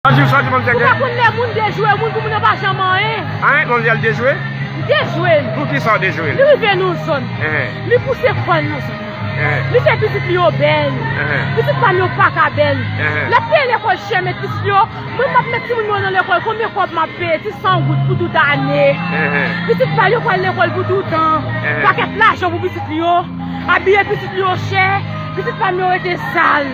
Bonjou sa di moun teke. Ou pa konn lè moun dejwe moun pou moun yo pa janm anyen. Anyen moun di al dejwe? Li dejwe l. Pou kisa ou dejwe l? Li rive nou zòn. Li pouse kòl nou zòn. Li fè pitit li yo bèl. Pitit pa m yo paka bèl. L ap peye lekòl chè met pitit li yo. Mwen m ap met timoun mwen nan lekòl konbyen kòb m ap peye? Ti san goud pou tout ane. Pitit pa l yo pral lekòl pou toutan. Pakèt lajan pou pitit li yo. Abiye pitit li yo chè. Pitit pa m yo rete sal.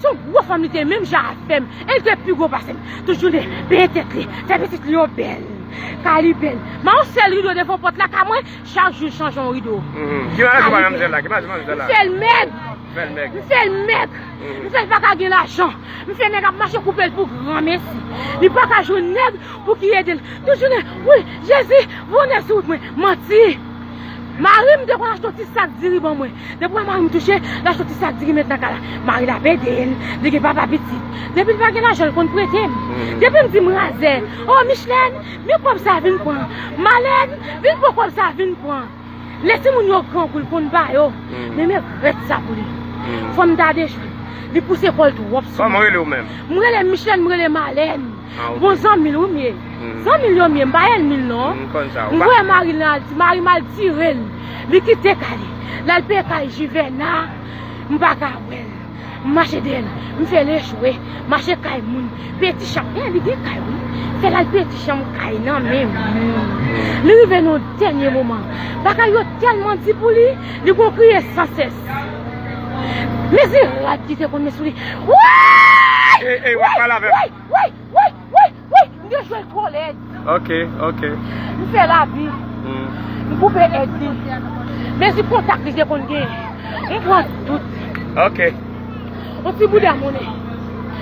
Se yon gwo fanm li te menm jan avèm e li te pi gwo pasem tout jounen benyen tèt li fè pitit li yo bèl kay li bèl man yon sèl rido devan pòt la kay mwen chak jou chanje yon rido kay li bèl m fèl mèg m fèl mèg m fèl paka gen lajan m fè nèg ap mache koupel pou granmesi li paka jwenn nèg pou ki edel tout jounen wi jezi vonnen sou wout mwen manti marim te konn achte yon ti sak diri ban mwen. Depi wè mari m touche, lap soti sak diri met nan ka la. Mari l ap ede l, li gen papa pitit. Depi l pa gen lajan l konn prete m. Depi m di m razè, o Michlèn, men kòb sa vin pran. Malèn, vin pran kòb sa vin pran. Lè timoun yo grangou l konn ba yo. Men m regrèt sa pou li. Fò m ta dechwe l. Li pouse kò l twòp sou mwen. M rele Michlèn, m rele Malèn. Bon zanmil wi m ye Zanmil yo m ye m pa ènmil non M voye maril nan Alti marim al tirel Li kite kay li lal peye kay jivèna M paka wèl M mache dèyèl m fèl echwe Mache kay moun peye ti chanm Li gen kay wi Fè lal peye ti chanm kay nan men moun Li rive nan yon dènye moman Bagay yo tèlman di pou li Li gon kriye san sès. Men se rad ki te konn met sou li. Woyy! Ey ey wap pale avem. Woyy woyy woyy woyy woyy m gen jwèt twò lèd. Ok ok. M fè lavi. M koupe èd li. Mezi kontak li te konn gen. M pran tout. Ok. On ti bouda monnen.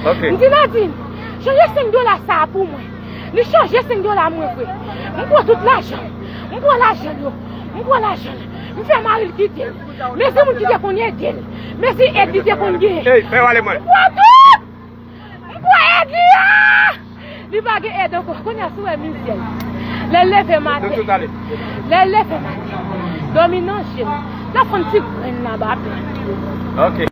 Ok. M di Nadin, chanje 5 dola sa a pou mwen. Li chanje 5 dola mwen vre. M pran tout lajan. M pran lajan l yo. M pran lajan l. M fè mari l kite l. Mesi moun ki te konn ede l. Mesi èd li te konn gen. M kwè tout! M kwè èd li a! Li pa gen èd ankò. Kounye a si w wè mizè l. Lè l leve maten. Lè l leve maten. Dòmi nan je l. L ap fè yon ti grenn nan ba pè l.